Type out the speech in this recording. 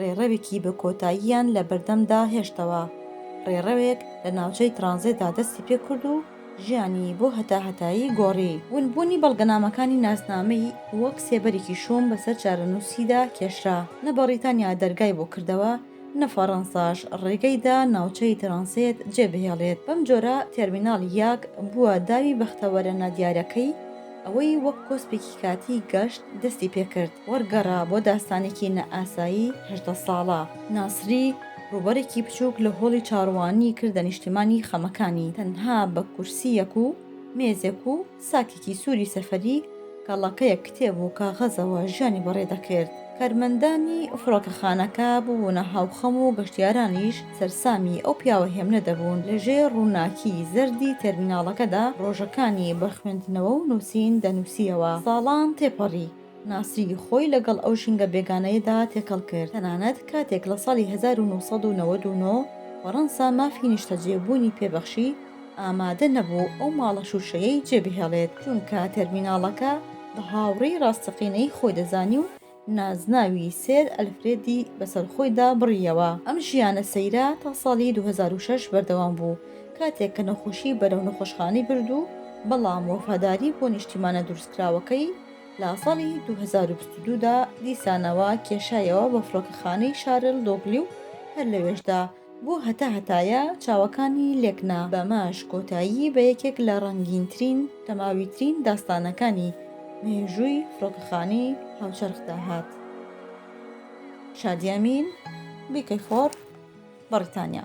ڕێڕەوێکی بە کۆتاییان لە بەردەمدا هێشتەوە، ڕێڕەوێک لە ناوچەی ترانزێتدا دەستی پێ کرد و ژیانی بۆ هەتاهەتایی گۆڕی. ونبوونی بەڵگەنامەکانی ناسنامەی وەک سێبەرێکی شۆم بەسەر چارەنووسیدا کێشرا، نە بەڕیتانیا دەرگای بۆ کردەوە، نە فەڕەنساش ڕێگەی دا ناوچەی ترانسێت جێبهێڵێت، بەمجۆرە تێرمیناڵ یاک بووە داوی بەختەوەرە نادیارەکەی. ئەوەی وەک کۆسپێکی کاتی گەشت دەستی پێ کرد، وەرگەڕا بۆ داستانێکی نائاسایی هەژدە ساڵە. ناسری ڕووبەرێکی بچووک لە هۆڵی چاڕوانیی کردە نیشتیمانی خەمەکانی، تەنها بە کورسییەک و مێزێک و ساکێکی سووری سەفەری، گەڵاکەیەک کتێب و کاغەزەوە ژیانی بەڕێ دەکرد. کارمەندانی فڕۆکەخانەکە ببوونە هاوخەم و گەشتیارانیش سەرسامی ئەو پیاوە هێمنە دەبوون، لە ژێر ڕووناکی زەردی تێرمیناڵەکەدا ڕۆژەکانی بە خوێندنەوە و نووسین دەنووسییەوە. ساڵان تێپەڕی. ناسری خۆی لەگەڵ ئەو ژینگە بێگانەیەدا تێکەڵ کرد، تەنانەت کاتێک لە ساڵی هەزار و نۆ سەد و نەوەد و نۆ فەڕەنسا مافی نیشتەجێبوونی پێ بەخشی، ئامادە نەبوو ئەو ماڵە شووشەیەی جێبهێڵێت، چونکە تێرمیناڵەکە بە هاوڕێی ڕاستەقینەی خۆی دەزانی و نازناوی سێر ئەلفرێدی بەسەر خۆیدا بڕییەوە. ئەم ژیانە سەیرە تا ساڵی دوو هەزار و شەش بەردەوام بوو، کاتێک کە نەخۆشی بەرەو نەخۆشخانەی برد و بەڵام وەفاداری بۆ نیشتیمانە دروستکراوەکەی لە ساڵی دوو هەزار و بیست و دوو دا دیسانەوە کێشایەوە بۆ فڕۆکەخانەی شارل دۆگلی و هەر لەوێشدا بۆ هەتا هەتایە چاوەکانی لێک نا. بەمەش کۆتایی بە یەکێک لە ڕەنگینترین دەماویترین داستانەکانی مێژووی فڕۆکەخانەی هاوچەرخدا هات. شادیامین، بیکەی فۆر، بەڕیتانیا.